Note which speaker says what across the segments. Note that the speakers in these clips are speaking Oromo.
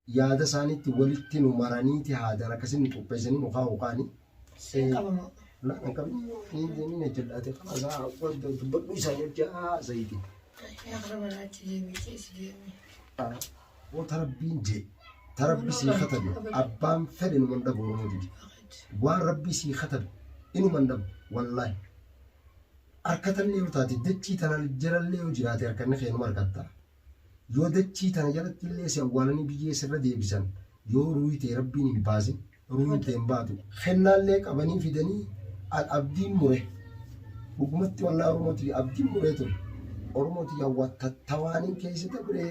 Speaker 1: yaada isaaniitti walitti nu maraniiti haadaan akkasiin nu qopheessanii nu kaa'u kaani. Siin qabamoo.
Speaker 2: Naan hin qabne
Speaker 1: hin deemin hojjedhaate kanaa dubbadhu isaa jechaa zayitii. Yaa kana manaatti deemee keessa
Speaker 2: deemee. Woo tarabbiin
Speaker 1: jee tarabbi sii katabe abbaan fedhe numan dhabu oromoo didi. Waan rabbii sii katabe inuman dhabu wallaahi. Harkatallee yoo taate dachii tanaan jalallee yoo jiraate harkanni keenuma harkatta. Yoo dachii tana jalatti illee si awwaalanii biyyee sirra deebisan, yoo ruuhi tee Rabbiin hin baasin, ruuhin tee hin baatu. Kennaallee qabanii fidanii an abdiin mure. Dhugumatti wallahi Oromoo tiyya abdiin muree ture. Oromoo tiyya wattattawaanin keessa dabree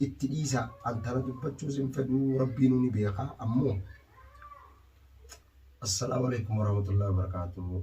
Speaker 1: itti dhiisa. An tana dubbachuus hin fedhuu Rabbiinuu ni beeka ammoo. Assalaamu alaikum warahmatullahi wabarakatuh.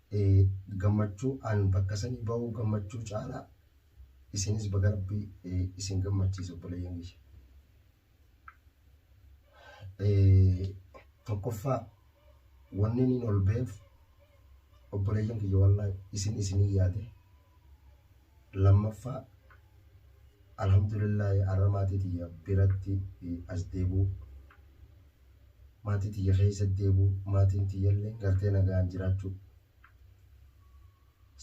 Speaker 1: gammachuu an bakka sanii bahuu gammachuu caalaa isinis baga rabbi isin gammachiise obboleeyyan kiyya. Tokkoffaa wanni niin ol baheef obboleeyyan kiyya wallaahi isin isinii yaade. lammaffaa alhamdulillaahi arra maatii tiyya biratti eh, as deebuu maatii tiyya keessa deebuu maatiin tiyyallee gartee nagaan jiraachuu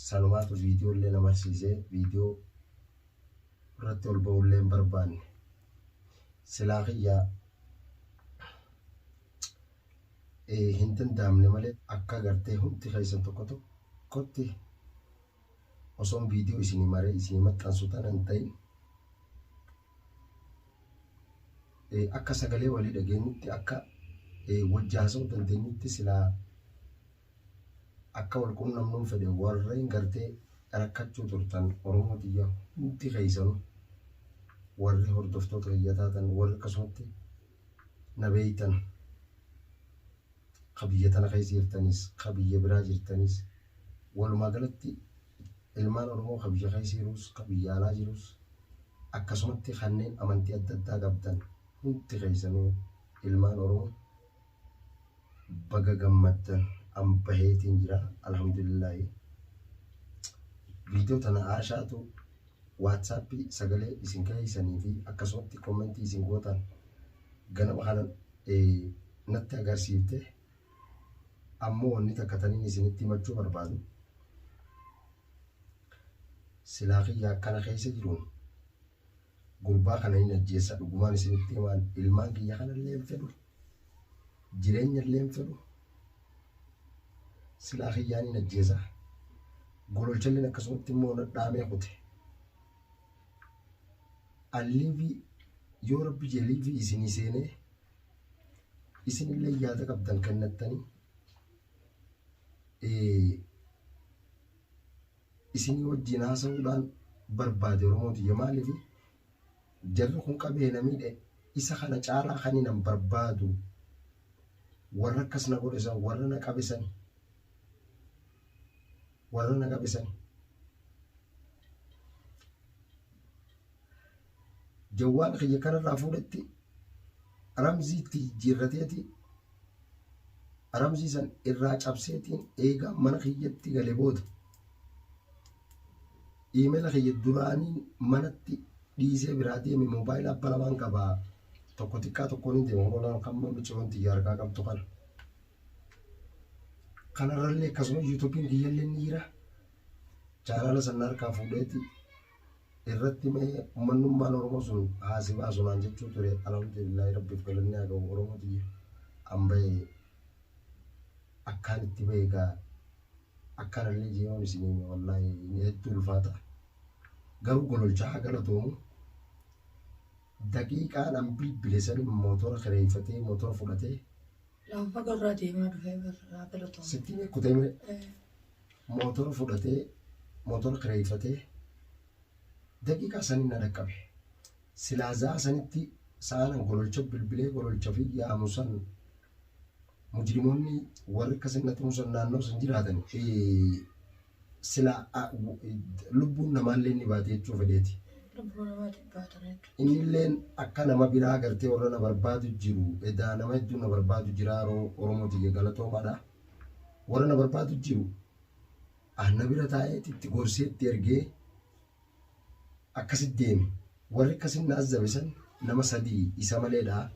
Speaker 1: sanumaatu viidiyoollee na marsiisee viidiyoo irratti ol ba'ullee hin barbaanne silaa kiyyaa hin danda'amne malee akka gartee hundi keessan tokko tokkotti osoon viidiyoo isinii maree isinii maxxansu tana hin ta'in akka sagalee walii dhageenyutti akka wajji haasa'uu dandeenyutti silaa akka wal quunnamnuun fedhe warreen gartee rakkachuu turtan Oromoo tiyya hundi keessanuu warri hordoftoota kiyya taatan warri akkasumatti na beeytan ka biyya tana keessa jirtaniis ka biyya biraa jirtaniis walumaa galatti ilmaan Oromoo ka biyya keessa jiruus ka biyya alaa jiruus akkasumatti kanneen amantii adda addaa qabdan hundi keessanuu ilmaan Oromoo baga gammaddan an baheetiin jira alhamdulillahi viidiyoo tana aashaatu waatsaappii sagalee isin kaheessanii fi akkasumatti kommentii isin gootan ganama kana natti agarsiifte ammoo wanni takka taniin isinitti himachuu barbaadu silaa kiyya akkana keessa jiruun gurbaa kana hin ajjeessa dhugumaan isinitti himaan ilmaan kiyya kanallee hin fedhu jireenya illee hin fedhu silaa kiyyaan hin ajjeesa gololchalleen akkasumatti immoo nadhaamee kute alliivii yoo rabbi jeliivii isinii seenee isin illee yaada qabdan kennattanii isinii wajjin haasa'uudhaan barbaade Oromoo tiyya maaliif Jarri kun qabee na miidhe isa kana caalaa kanin an barbaadu warra akkas na godhe san warra na qabe sani. Warra na qabe sani. Jawwaala kiyya kanarraa fuudhetti ramziitti jijjiirrateeti Aramsii san irraa cabseetiin eegaa mana kiyyatti gale booda iimela kiyya duraanii manatti dhiisee biraa deeme moobaayila abba lamaan qaba tokko xiqqaa tokkoon hin deema hololaan kan micciroon tiyya harkaa qabdu kana. Kanarrallee akkasuma yuutuubiin kiyyallee ni jira. Chaanaala san harkaa fuudheeti irratti mee ummannummaan Oromoo sun haasi baasu naan jechuu ture alhamdulillahi rabbiif galanni haa ga'u Oromoo tiyya an bahe akkaan itti bahe gaa akkaan illee jiyoon isin hime wallaahi hedduu ulfaata garuu gololchaa haa galatoomu daqiiqaan an bilbile san mootora kireeffatee mootora fudhatee Lafa
Speaker 2: gorraa deemaa dhufee barraa galatoomu. sitti kutee mire Eh,
Speaker 1: Motora fudhatee motora kireeyfatee daqiiqaa saniin na dhaqqabe. Silaa za'aa sanitti sa'aan an gololcha bilbilee gololchafi yaamu san mujrimoonni warri akkasi na tumu san naannoo san jiraatan silaa lubbuun namaallee ni baati jechuu fedheeti. Lubbuu namaatiin baatan hedduu. Innilleen akka nama biraa gartee warra na barbaadu jiru edaa nama hedduu na barbaadu jira Oromoo tiyya galatoomaadha. warra na barbaadu jiru anna bira taa'ee itti gorsee itti ergee akkasitti deeme warri akkasin na azzabe san nama sadii isa maleedha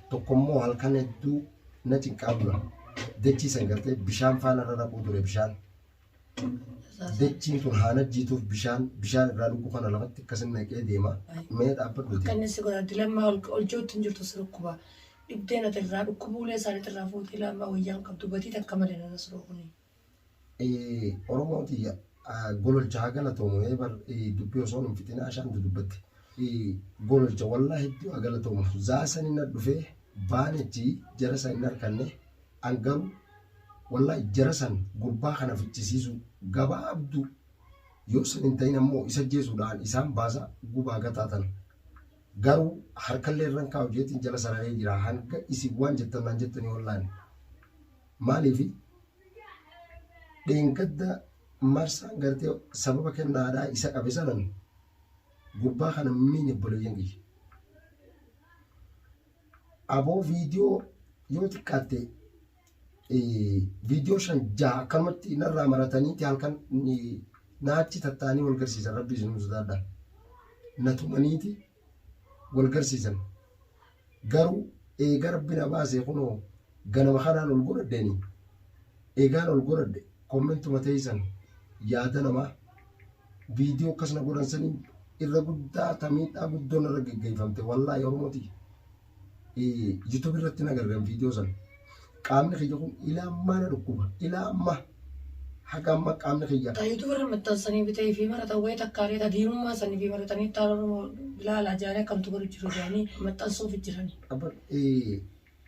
Speaker 1: tokkommoo halkan hedduu na cinqaa bula dachii san gartee bishaan faana irra naquu ture bishaan dachiin tun haana jiituuf bishaan bishaan irraa dhuguu kana lafatti akkasin naqee deema mee dhaabbadhu Kan inni si godha dilammaa
Speaker 2: ol ol jirtu hin jirtu si dhukkuba. dhibdee nati irraa dhukkubuu ulee isaa nati irraa fuute ilaa ammaa wayyaan qabdu batii takka male na nasroo
Speaker 1: kunii. Oromoo tiyya gololcha haa galatoomu ee bar dubbii osoo nun fixin ashaan dudubbatte gololcha wallaa hedduu haa galatoomu zaa san hin dhufee baanechi jara san hin arkanne an garuu wallaa jara san gurbaa kana fichisiisu gabaabdu yoo san hin ta'in ammoo isa jeesuudhaan isaan baasa gubaa gataa tana. Garuu harkallee irran kaa'u jeetiin jala sararee jira hanga isin waan jettan naan jettanii wallaan maaliifi dheengadda marsaan gartee sababa kennaadhaa isa qabe sanan gurbaa kana miin obboleeyyan kiyya aboo viidiyoo yoo xiqqaatte viidiyoo shan jaha akkanumatti narraa marataniiti halkan naachi tattaanii wal garsiisan rabbi isinuu sodaadha na tumaniiti wal garsiisan garuu eega rabbi na baasee kunoo ganama kanaan ol godhadheeni eegaan ol godhadhe kommentuma teeysan yaada namaa viidiyoo akkas na godhan saniin irra guddaa tamiidhaa guddoon irra geggeeffamte wallaahi oromoti YouTube irratti na gargan viidiyoo sana. Qaamni kiyya kun ilaa ammaa na dhukkuba. Ilaa ammaa haga amma qaamni kiyya. Ta YouTube irra maxxansanii
Speaker 2: bitee fi maratan wayii takkaalee ta diinummaa sanii fi maratanii taan Oromoo bilaala jaanii akkamtu godhu jiru jaanii maxxansuuf jiran.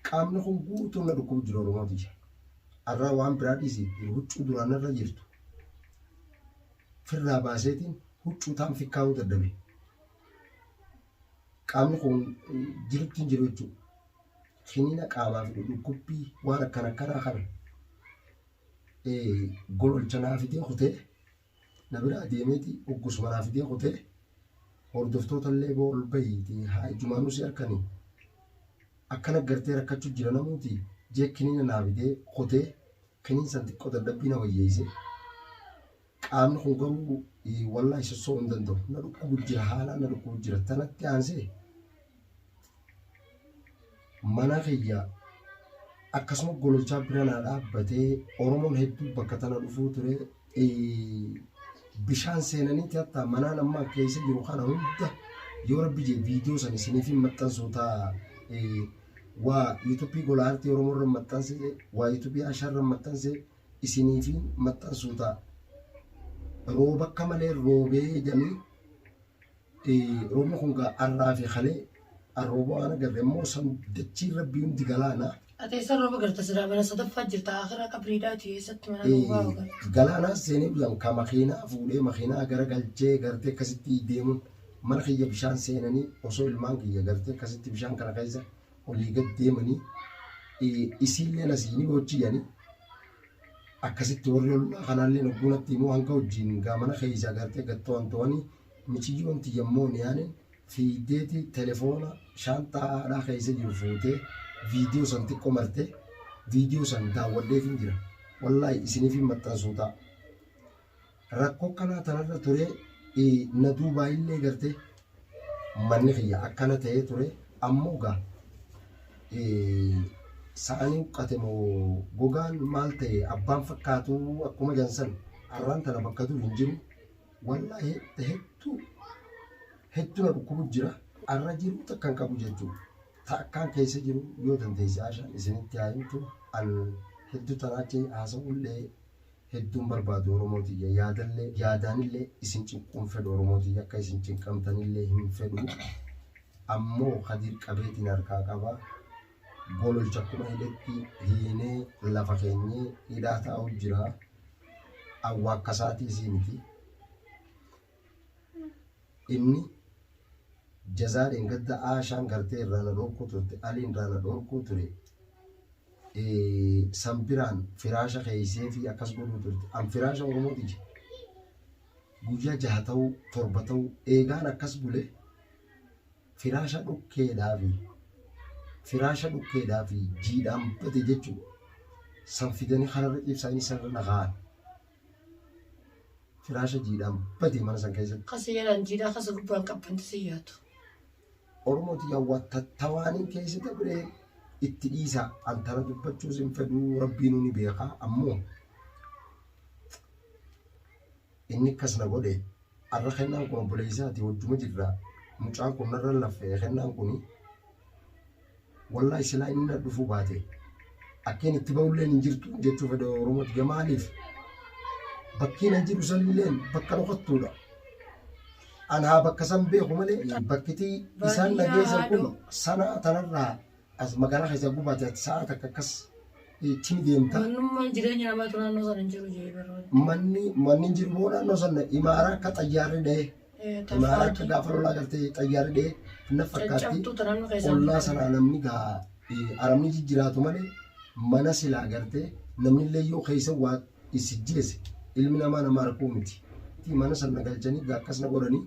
Speaker 1: Qaamni kun guutuun na dhukkubu jira Oromoo tiyya. Arraa waan biraa dhiisi huccuu duraan irra jirtu. Firraa baaseetiin huccuu taan fikkaa'uu dadhabe. qaamni kun jirutti hin jiru jechuudha. Kiniina qaamaa fi dhukkubbii waan akkana akkanaa kana gololcha naa fidee kutee na bira adeemeeti uggusuma naa fidee kutee hordoftoota illee boo ol bahiiti haa ijumaanuu si harkani akkana gartee rakkachuu jira namuuti jee kiniina naa fidee kutee kiniin san xiqqoo dadhabbii na wayyeeyse Qaamni kun garuu wallahi sossoo hin danda'u. Na dhukkubu jira haalaan na dhukkubu jira. Tanatti aansee mana kiyya akkasuma gololchaa bira naa dhaabbatee Oromoon hedduu bakka tana dhufuu ture. Bishaan seenaniiti hatta manaan amma keessa jiru kana hunda yoo rabbi jee viidiyoo san isiniif hin maxxansu ta'a. Waa yuutuubii gola aartii Oromoo irra maxxanse, waa yuutuubii Ashaa irra maxxanse. isiniifi maxxansuu ta'a. Rooba akka malee roobee jedhanii roobni kun gaa har'aa fi kalee arrooba waan agarre immoo san dachiin rabbii hundi galaana. Ati eessa rooba garta
Speaker 2: siraa mana sadaffaa jirta akira qabriidhaa ti eessatti mana roobaa ogan. Galaanaa seenee bilan
Speaker 1: ka makiinaa fuudhee makiinaa gara galchee gartee akkasitti deemuun mana kiyya bishaan seenanii osoo ilmaan kiyya gartee akkasitti bishaan kana keessa olii gad deemanii isiilleen asiinii hojii yanii akkasitti warri ollaa kanaallee hogguu natti immoo hanga hojiin gaamana keessaa gartee gad to'an to'anii miciyyoon tiyyammoo niyaaniin fiiddeeti telefoona shaantaa haadhaa keessa jiru fuutee viidiyoo san xiqqoo martee viidiyoo san daawwadheefin jira wallaahi isiniifin maxxansuu ta'a rakkoo akkanaa tanarra ture na duubaa illee garte manni kiyya akkana ta'ee ture ammoo gaa sa'anii huqqate moo gogaan maal ta'e abbaan fakkaatu akkuma jansan arraan tana bakka dur hin jiru wallaahi hedduu hedduu na dhukkubu jira arra jiru takkan qabu jechuudha. Ta akkaan keessa jiru yoo dandeesse haashaan isinitti haa himtu an hedduu tanaachi haasa'ullee hedduun barbaadu oromoo tiyya yaadallee yaadaanillee isin cinquun fedhu oromoo tiyya akka isin cinqamtanillee hin fedhu ammoo kadiir qabeetiin harkaa qaba gololcha akkuma hidhetti hiinee lafa keenyee hidhaa taa'u jira awwaakkasaati isii miti Inni jazaa dheengadda Aashaan gartee irraa na dhorkuu turte Aliin irraa na dhorkuu ture san biraan firaasha keeysee fi akkas godhuu turte an firaasha oromoo tiyya guyyaa jaha ta'uu torba ta'uu eegaan akkas bule firaasha dhukkeedhaa fi firaasha dhukkeedhaa fi jiidhaan bade jechuu san fidanii kanarra ciibsaa inni sanirra na kaa'an Firaasha jiidhaan badee mana san keessatti. Ka seeraan jiidhaa kasa
Speaker 2: gubbaan qabban tasa yaatu. Oromoo
Speaker 1: tiyya waa tattawaanii keessa dabree itti dhiisaa. An tana dubbachuus hin fedhuu rabbiinuu ni beekaa ammoo inni akkas na godhe. Arra kennaan kun obboleessaati wajjuma jirra. Mucaan kun narra laffa'e kennaan kun wallahi silaa inni na dhufuu baate akkeen itti ba'ulleen hin jirtu jechuu fedha Oromooti ga maaliif bakkeen an jiru sanilleen bakka dhokattuudha. Anaa bakka san beeku malee bakkitii isaan na geessan kun sanaa tanarraa as magaalaa keessaa gubaate ati sa'a takka akkas itti deemta. Mannummaan jireenya namaatu
Speaker 2: naannoo sana hin jiru jee baroo. Manni manni jiru
Speaker 1: boo naannoo sana imaara akka xayyaarri dha'e. Imaara akka gaafa lolaa galtee xayyaarri dha'e na fakkaatti. Caccabtuu ta naannoo keessaa. Ollaa sanaa namni gaa eh, aramni jijjiraatu malee mana silaa gartee namni illee yoo keessa waa isijjeese ilmi namaa nama arkuu miti. Mana sana galchanii gaa akkas na godhanii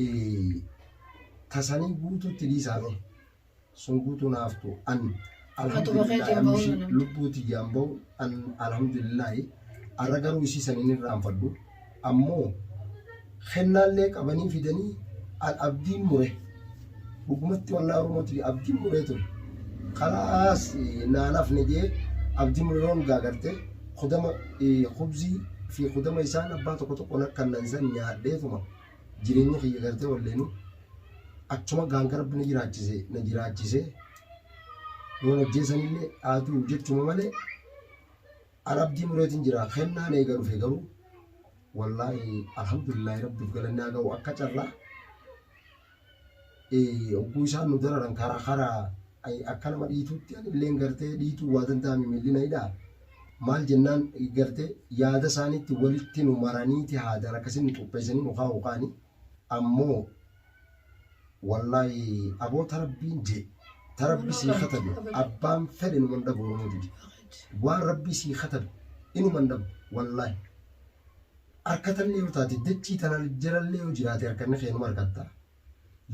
Speaker 1: eh, tasanii guutuutti dhiisaame. sun guutuu naaf tu an alhamdulillah amshi lubbuu tiyyaan ba'u an alhamdulillah arra garuu isii san hin irraanfadhu ammoo kennaallee qabanii fidanii an abdiin mure dhugumatti wallaa oromootii abdiin muree ture kalaas naan hafne jee abdiin mure roon gaagarte kudama kubzii fi kudama isaan abbaa tokko tokko nakkannan san nyaadheetuma jireenya kiyya gartee walleenu achuma gaanga rabbi na jiraachise na jiraachise yoon ajjeesanillee haatu jechuma malee an abdii mureetiin jira kennaan eega dhufe garuu wallaahi alhamdulillaahi rabbiif galanni haa ga'u akka carraa Ogguu isaan nu dararan karaa karaa akka nama dhiituutti anilleen gartee dhiituu waa danda'ame milli na hidhaa. Maal jennaan gartee yaada isaaniitti walitti nu maraniiti haadaan akkasiin nu qopheessanii nu kaa'u kaani. Ammoo wallaahi aboo tarabbiin jee tarabbi sii katabe abbaan fedhe nu man dhabu Oromoo tiyya. Waan rabbii sii katabe inuma hin dhabu wallaahi. Harkatallee yoo taate dachii tana jalallee yoo jiraate harkanni keenuma harkatta.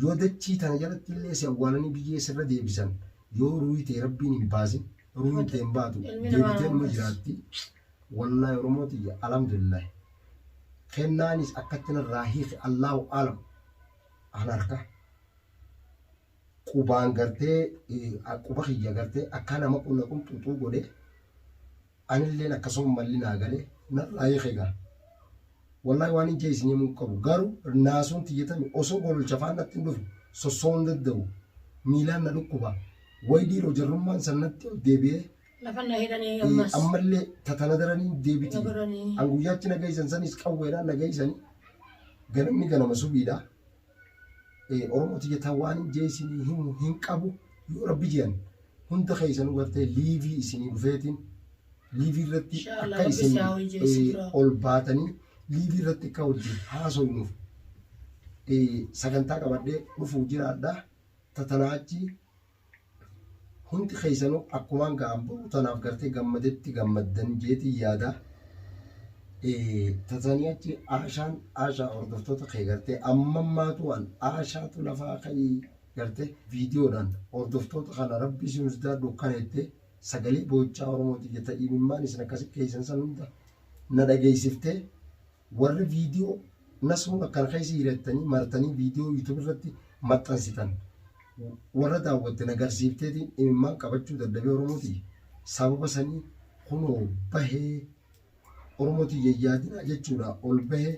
Speaker 1: Yoo dachii tana jalatti illee si awwaalanii biyyee sirra deebisan yoo ruuhi tee rabbiin hin baasin ruuhin tee hin baatu deebitee numa jiraatti. Wallaahi Oromoo tiyya alhamdulillahi. Kennaanis akkatti narraa hiike Allaahu aalam. Ana harkaa. qubaan gartee quba kiyya gartee akkaa nama qunna qunxuxuu godhe anilleen akkasuma malli naa gale narraa hiike gaa wallahi waan hin jeesin himuu qabu garuu naasuun tiyyatame osoo gololcha faan natti hin dhufe sossoo hin danda'u miilaan na dhukkuba wayi dhiiroo jarrummaan san natti ol deebi'ee Lafa na
Speaker 2: hidhanii Eh, ammas. ammallee
Speaker 1: tatana daranii deebiti Na godhanii. an guyyaachi na geessan sanis qawweedhaan na geessanii ganamni ganama subiidha Oromooti jetan waan hin jeesinii himu hin qabu yoo rabbi jean hunda keessanuu gartee liivii isinii dhufeetiin liivii irratti Inshallah, akka rabbi isin si haa wajjin eh, sibiraa. ol baatanii liivii irratti akka wajjin haasofnuuf eh, sagantaa qabadhee dhufuuf jiraadha tatanaa achi Hundi keessanu akkumaan gaa boruu tanaaf gartee gammadetti gammaddan jeetiin yaada. Tatanii achi aashaan aashaa hordoftoota kee gartee ammammaatu waan aashaatu lafaa ka'ii gartee viidiyoodhaan hordoftoota kana rabbii si hundaa dukkaneettee sagalee boochaa Oromootiif jetta imimmaan isin akkasi keessan san hunda na dhageessiftee warri video nasruun akkana keessa jira jettanii martanii video youtube irratti maxxansitan warra daawwatte nagarsiifteetiin imimmaan qabachuu dadhabee oromooti sababa sanii kunoo bahee oromooti yayyaadinaa jechuudha ol bahee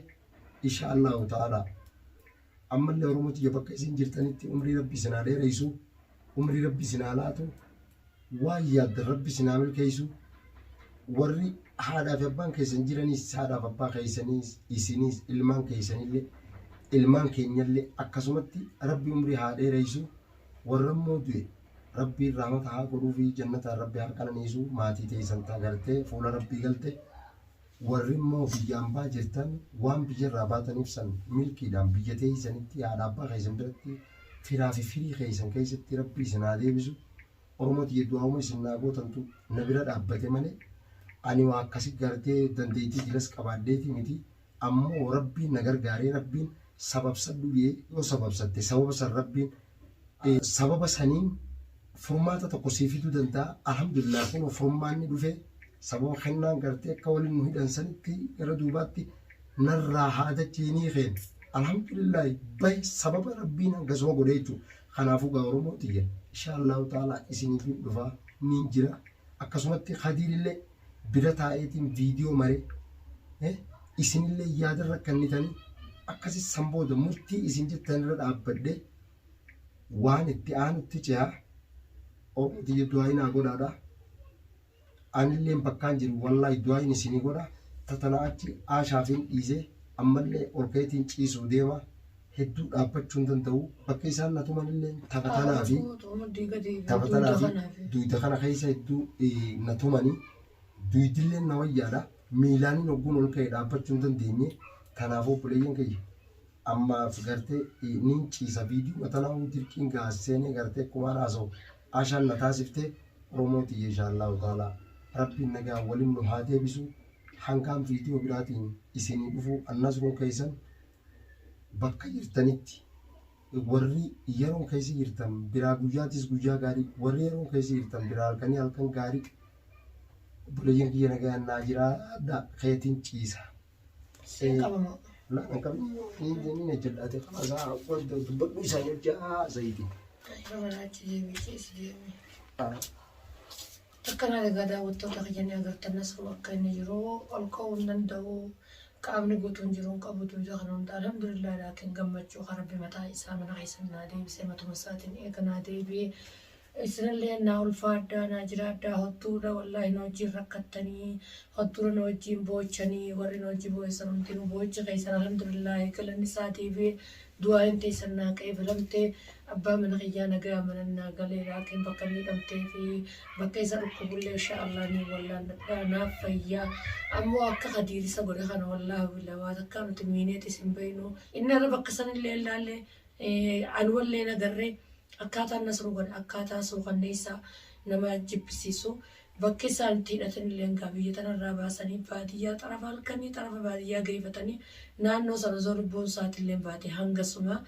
Speaker 1: isha allahu ta'ala ammallee oromooti bakka isin jirtanitti umrii rabbi isin haa dheereessu umrii rabbi isin haa laatu waan yaaddan rabbi isin haa milkeessu warri haadhaa fi abbaan keessan jiranis haadhaaf abbaa keessaniis isinis ilmaan keessanillee ilmaan keenyallee akkasumatti rabbi umrii haa dheereessu warra immoo du'e rabbiin rahmata haa godhuu fi jannataan rabbi haa qananiisu maatii teessan taa gartee fuula rabbii galte Warri immoo biyya ambaa jirtan waan biyya irraa baataniif san milkiidhaan biyya teeysanitti haadha abbaa keeysan biratti firaa fi firii keeysan keeysatti rabbi isin haa deebisu oromoo tiyya du'aa'uma isin naa gootantu na bira dhaabbate malee ani waa akkasi gartee dandeeytii jilas qabaadheeti miti ammoo rabbiin na gargaaree rabbiin sababsadhu jee yoo sababsatte sababa san rabbiin sababa saniin furmaata tokko sii fiduu danda'a. Alhamdulillah kunoo furmaanni dhufe sababa kennaan gartee akka waliin nu hidhan sanitti gara duubaatti narraa haadachi hinii keen. Alhamdulillah bahi sababa rabbiin hangasuma godhe jechuudha. Kanaafuu gaa Oromoo tiyya insha Allahu ta'ala isiniif hin dhufa niin jira. Akkasumatti kadiirillee bira taa'eetiin viidiyoo mare eh, isinillee yaada rakkannitanii akkasi san booda murtii isin jettan irra dhaabbadhe waan itti aanutti ce'a obtiyya du'aayinaa godhaadha anilleen bakkaan jiru wallaahi du'aayin isinii godha tatana achi aashaafiin dhiisee ammallee ol ka'eetiin ciisuu deema. hedduu dhaabbachuu hin danda'u. Bakka isaan na tumanillee tapha tanaa fi tapha tanaa fi duyda kana keessa hedduu eh, na tumani. Duydillee na wayyaadha. Miilaaniin hogguun ol ka'e dhaabbachuu hin dandeenye. Kanaaf obboleeyyan kiyya ammaaf gartee eh, niin ciisa viidiyoo tanaa huu dirqiin gaa seenee gartee akkuma haasa'u ashaan na taasiftee Oromoo tiyya inshaallahu ta'ala rabbiin nagaa waliin nu haa deebisu. Hangaan viidiyoo biraatiin isinii dhufu annasruun keessan bakka jirtanitti warri yeroon keessa jirtan biraa guyyaatis guyyaa gaarii warri yeroon keessa jirtan biraa halkanii halkan gaarii buleeyyan kiyya nagaan naa jiraadha keetiin ciisa. Siin qabamoo. Na kan qabin ni jenni na jedhaate kana isaa wanta dubbadhu isaa jechaa zayitiin. Ayyoo manaatti deemee keessa deemee. Ah.
Speaker 2: Akkanaan egaa daawwattoota kiyya ni agartan nasruu akka inni jiru ol ka'uu hin danda'u qaamni guutuun jiru hin qabu duuda kana hunda alhamdulillah laakiin gammachuu kan rabbi mataa isaa mana keessan naa deebisee matuma isaatiin eega naa deebi'ee isinillee naa ulfaadhaa naa jiraadhaa hodduudha wallaahi na wajjiin rakkattanii hodduudha na wajjiin boochanii warri na wajji boo'essan hundinuu boochi keessan alhamdulillah galanni isaa deebi'ee Du'aayiin teessan naa qeebalamte, abbaa mana kiyyaa nagayaan mana naa gale, laakiin bakka inni hidhamtee fi bakka isa dhukkubullee inshaa Allaah niin wallaalladha, naaf fayya, ammoo akka Kadiir isa godhe kana wallaahi billah waa takkaa nuti miineetis hin beeynu, inni har'a bakka sanillee hin laalle, anumallee hin agarre, akkaataan Nasruu godhe akkaataa suukanneessaa nama jibbisiisu, Bakki isaan itti hidhatanilleen kaa biyya tanarraa baasanii baadiyyaa xarafa halkanii xarafa baadiyyaa geeyfatanii naannoo san osoo lubbuun isaatilleen baate hangasuma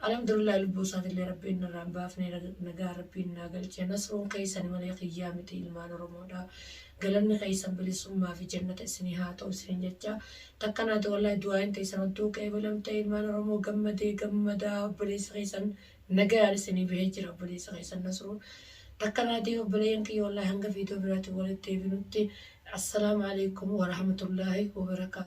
Speaker 2: Alhamdulillahi lubbuu isaatillee Rabbiin narraa hin baafne nagaan Rabbiin naa galche nasruun keeysani malee kiyyaa miti ilmaan Oromoodha galanni keeysan bilisummaa fi jannata isinii haa ta'u isiniin jecha takka naati wallaahi du'aayiin teeysan odduu qeebalamte ilmaan Oromoo gammadee gammadaa obboleeysa keeysan Nagayaan isinii bahee jira obboleessa keessan Nasruu takka naa deebi obboleeyyan kiyya wallaahi hanga viidiyoo biraatiin walitti deebinutti Assalaamu Aleeykum Warahmatullaahi Wabarakaatuh.